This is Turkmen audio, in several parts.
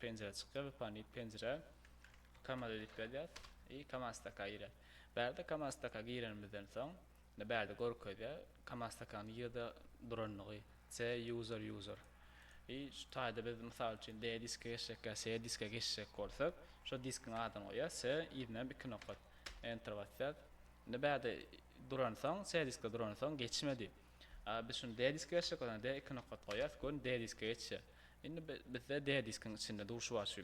penjire çykýar we pony penjire kamaza edip gelýär i kamastaka gire bärde kamastaka girenimizden soň ne bärde görkezýär kamastaka nirede duranlygy se user user i şu taýda biz mysal üçin de diske geçjekkä se diske geçjek bolsak şo diskiň adyny goýýar se yzynam iki nokat enter basýar ne bärde duransoň se diske duransoň geçmedi. A biz şuny D diske geçjek bolanda D iki nokat goýýas görün D diske geçýär. Indi bizde D diskiň içinde durşy bar şu.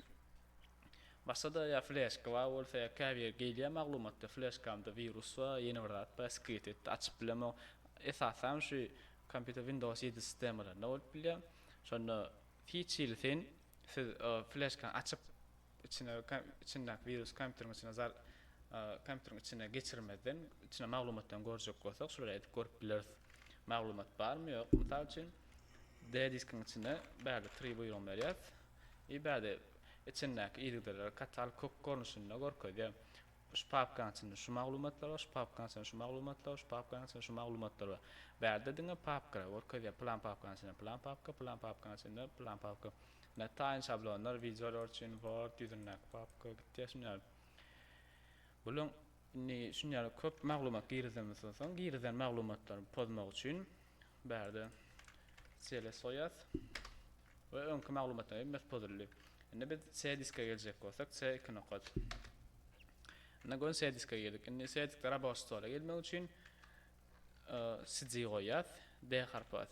Başgada ýa fleşka bar bolsa ýa käbir gelýär maglumatda fleşkamda wirus bar ýene bir zat bar skript etdi açyp bilemok. Esasanam şu kompýuter windows ýedi sistemalarynda bolup bilýär. Şonda hiç hili syn. Siz fleşkany açyp, içine içindäki wirusy kompýuteriň içine zal kompýuteriň içine geçirmezden, içine maglumatdan görjek bolsak, şular edip görüp bileris. Maglumat barmy, ýok. Mysal üçin, D diskiň içine bärde tri buýrugyny berýäs. I bärde içindäki ýigdeleri katal kök görnüşinde görkezýär. Şu papkanyň içinde şu maglumatlar bar, şu papkanyň içinde şu maglumatlar bar, şu papkanyň içinde şu maglumatlar bar. Bärde diňe papkalar görkezýär, pylan papkanyň içinde pylan papka, pylan papkanyň içinde pylan papka. Ine, taýyn şablonlar, wideolar üçin Word ýüzündäki papka gitýär. Şunuň ýaly. Bularyň indi şunuň ýaly köp maglumat girizemizden soň, soň girizen maglumatlary pozmak üçin bärde cls goýýas. We öňki maglumatdan hem mes pozuldy. Indi biz C diske geljek bolsak C iki nokat. Indi gön C diske geldik. Indi C diske rabaş stola gelmek üçin CD goýýas. D harpy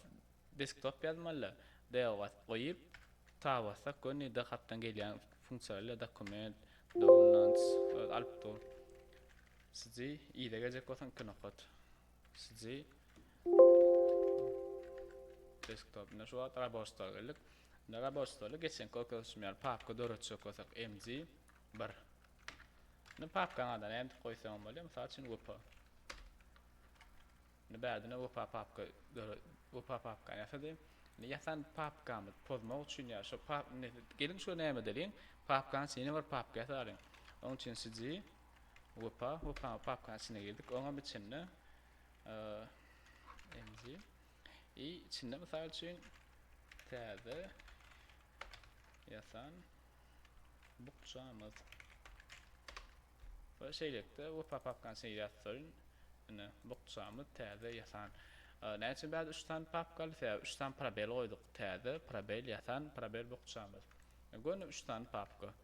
desktop ýazmaly. D bas goýup ta bassak gön D harpdan gelýän funksiýalar dokument, downloads, alyp dur. CD ide geljek bolsaň iki nokat. Siji desktop ine şu wagt raboç stola geldik. Indi raboç stoly geçenki oturuşym ýaly papka döretjek bolsak mg 1. Indi papkaň adyny nädip goýsaň bolýar? Mysal üçin wepa. Indi bärdine wepa papka wepa papkany ýasady. Indi ýasan papkamyz pozmak üçin ýa şu pap geliň şu näme edeliň? Papkaň içine bir papka ýasalyň. Onuň üçin siji Wepa, Wepanyň papkaň içine girdik. Oňam içinde Enzi. I içinde mysal üçin täze ýasan bukjamyz. Bu şeýlelikde Wepa papkaň içine ýazsyn. Ine, bukjamyz täze ýasan. Näme üçin bäri 3 sany papkaly? Sebäbi 3 sany probel goýduk. Täze, probel, ýasan, probel, bukjamyz. Göni 3 sany papka.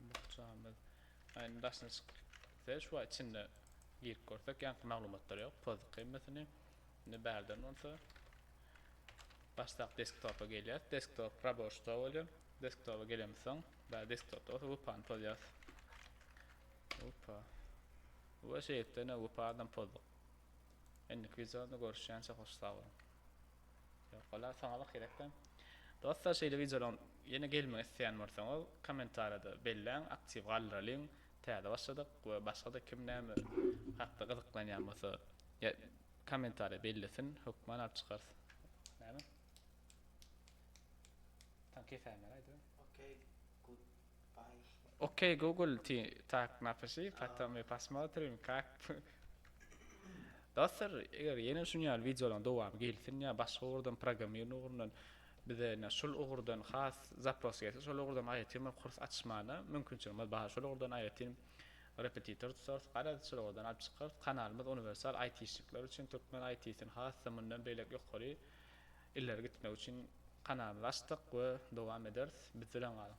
Bukjamyz aýnyň daşyna çykyp gitse şu wagt içinde girip görsek ýaňky maglumatlar ýok pozit gymmatyny indi bärden bolsa başdak desktopa gelýär desktop raboşda bolýar desktopa gelemiz soň bär desktopda bolsa wpany pozýas wpa we şeýtde ne wpa adam pozduk indiki videoda görüşýänçe hoş sag boluň Ýok wala soňabak gerekdä. Dostlar şeýle wideolaryň ýene gelmegini isleýän bolsaňyz kommentariýada belläň aktiw galdyralyň täze başladyk we başgada kim näme hakda gyzyklanýan bolsa kommentariýa bellesin hökman alyp çykarys näme. Taň kesäýmäraýda. Okey good. Ok Google ty tak napiši potom my posmotrim kak Dostlar eger ýene şun ýaly wideolaryň dowamy gelsin ýa başga ugurdan programmirn ugrundan bize ýne şul ugurdan has zapros gelse şol ugurdan aýratyn bir kurs açmana mümkinçiligimiz bar şol ugurdan aýratyn repetitor tutarys garaz şol ugurdan alyp çykarys kanalymyz uniwersal aýtişnikler üçin türkmen aýtisini has-da mundan beýläk ýokary Ileri gitmek üçin kanalymyzy açdyk we dowam ederis. Biz bilen galyň!